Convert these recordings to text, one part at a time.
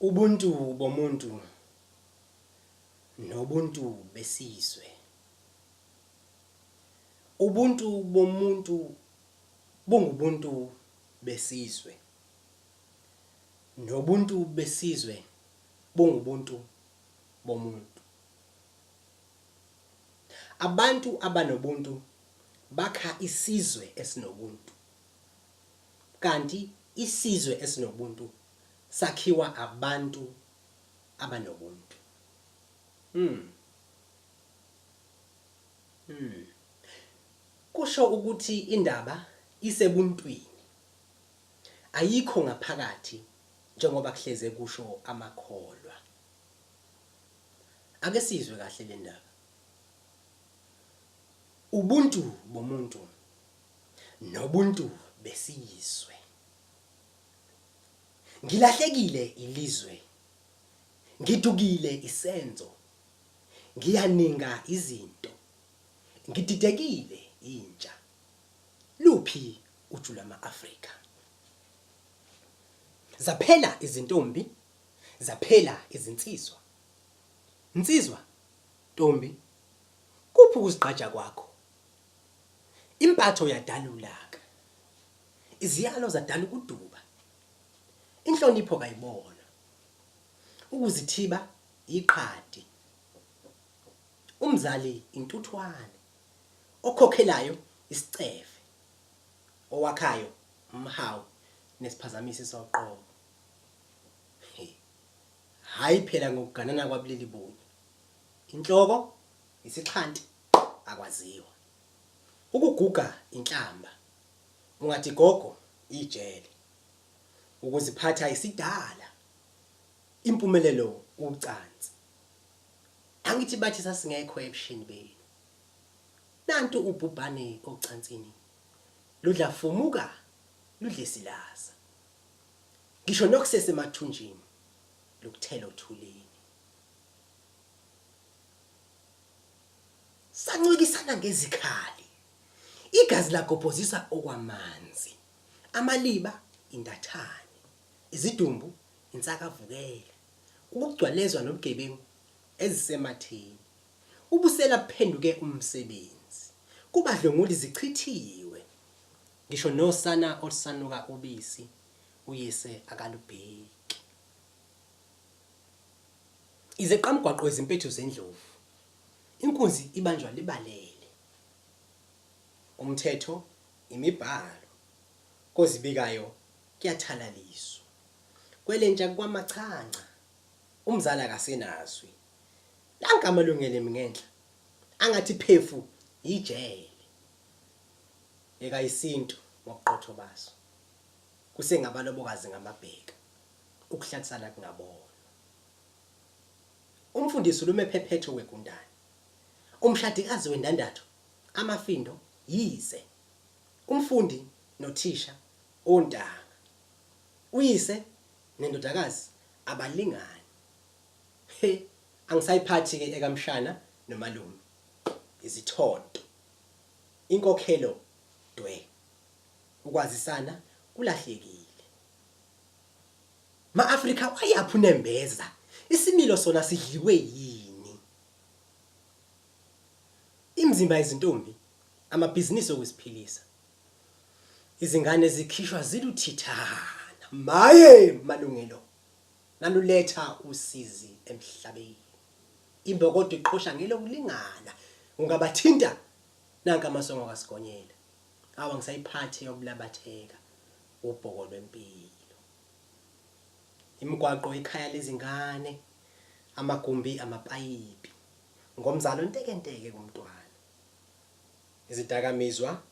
Ubuntu bomuntu nobuntu besizwe. Ubuntu bomuntu bungubuntu besizwe nobuntu besizwe bungubuntu bomuntu. Abantu abanobuntu bakha isizwe esinobuntu. Kanti isizwe esinobuntu sakhiwa abantu abanobuntu. Hmm. Hmm. Kusho ukuthi indaba isebuntwini. Ayikho ngaphakathi njengoba kuhleze kusho amakholwa. Ake sizwe kahle le ndaba. Ubuntu bomuntu nobuntu besiyizwe. Ngilahlekile ilizwe, ngidukile isenzo, ngiyaninga izinto, ngididekile intsha. Luphi uju lwama-Afrika? Zaphela izintombi, zaphela izinsizwa. Nsizwa, ntombi, kuphi ukuzigqaja kwakho? Impatho yadala ulaka. Iziyalo zadala ukuduba. Inhlonipho kayibonwa. Ukuzithiba yiqhadi. Umzali intuthwane. Okhokhelayo isicefe. Owakhayo umhawu nesiphazamisi soqobo. Hhayi phela ngokuganana kwabulili bunye. Inhloko yisixhanti. akwaziwa. Ukuguga inhlamba ungathi gogo ijele. Ukuziphatha isidala impumelelo ucansi. Angithi bathi sasingekho ebushini benu. Nantu ubhubhane ocansini. Ludla fumuka ludle silaza. Ngisho nokusese mathunjini lukuthela othulini. Sancwikisana ngezikhali. Igazi lagobhozisa okwamanzi. Amaliba indathane. Izidumbu insakavukela. Ukugcwalezwa nobugebengu ezisematheni. Ubusela buphenduke umsebenzi. Kubadlwenguli zichithiwe. Ngisho nosana olusanuka ubisi uyise akalubheki. Izeqamgwaqo izimpethu zendlovu. Inkunzi ibanjwa libalele. Umthetho, imibhalo. Kozibikayo kuyathalaliswa. Kwelentsha kukwamachanca. Umzali akasenazwi. Nanka amalungelo emi ngenhla. Angathi phefu yijele. Yeka isintu ngobuqotho baso. Kusengabalobokazi ngamabheka. Ukuhlalisana kungabonwa. Umfundisi ulume phephetho wegundane. Umshadikazi wendandatho, amafindo, yise. Umfundi nothisha, ontanga. Uyise nendodakazi abalingani. He, angisayiphathi-ke ekamshana nomalume. Izithonto. Inkokhelo dwe. Ukwazisana kulahlekile. Ma-Afrika wayaphi unembeza? Isimilo sona sidliwe yini? Imizimba yezintombi, amabhizinisi okuziphilisa. Izingane zikhishwa ziluthithana. Maye malungelo! Naluletha usizi emhlabeni. Imbokodo iqhosha ngelokulingana. Ungabathinta? Nanka amasongo kaSigonyela. Awu angisayiphathi eyokulabatheka. Ubhoko lwempilo. Imigwaqo ikhaya lezingane, amagumbi amapayipi. Ngomzali ontekenteke kumntwana. Izidakamizwa,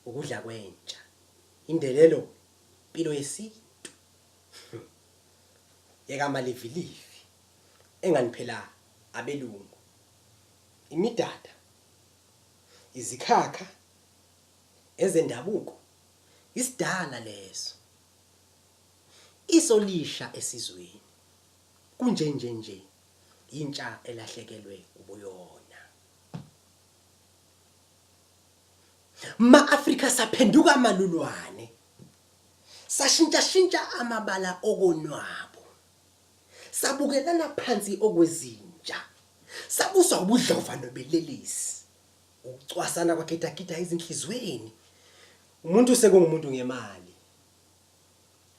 ukudla kwentsha. Indelelo, mpilo yesintu. Yeka amalivilivi, engani phela abelungu. Imidada, izikhakha, ezendabuko. Isidala leso. Iso lisha esizweni. Kunjenje nje. Yintsha elahlekelwe ubuyona. Ma Africa saphenduka amalulwane. Sashintsha shintsha amabala okonwabo. Sabukelana phansi okwezinja. Sabuswa ubudlova nobelelisi. Ukucwasana kwagidagida ezinhlizweni. Umuntu sekungumuntu ngemali.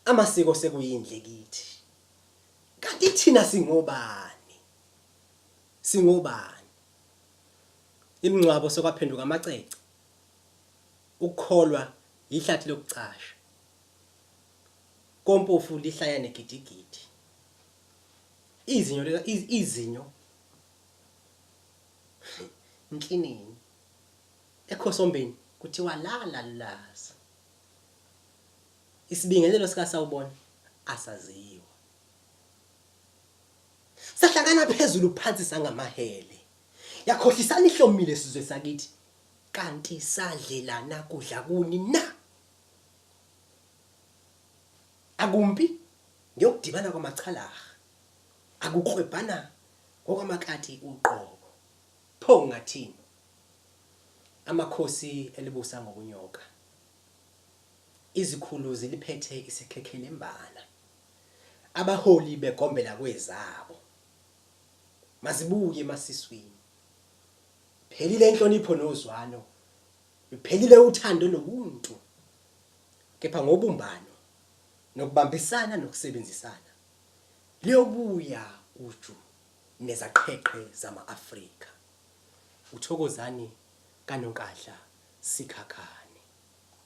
Amasiko sekuyindle kithi. Kanti thina singobani? Singobani? Imingcwabo sokwaphenduka amacece. Ukukholwa yihlathi lokucasha. Kompofu lihlaya negidigidi. Izinyo izinyo Nkinini. Ekhosombeni kuthiwa lala lulaza. Isibingelelo sika sawubona asaziwa. Sahlangana phezulu phansi sangamahele. Yakhohlisana ihlomile sizwe sakithi. Kanti sadlelana kudla kuni na? Akumpi ngiyokudibana kwamachalaha. Akuklwebhana ngokwamakati uqobo. Pho ngingathini? Amakhosi elibusa ngokunyoka. Izikhulu ziliphethe isikhekhelembana. Abaholi begombela kwezabo. Mazibuye emasiswini. Phelile inhlonipho nozwano. Luphelile uthando nobuntu. Kepha ngobumbano nokubambisana nokusebenzisana. liyobuya uju nezaqheqhe zama-Afrika uThokozani kaNonkadla Sikhakhane.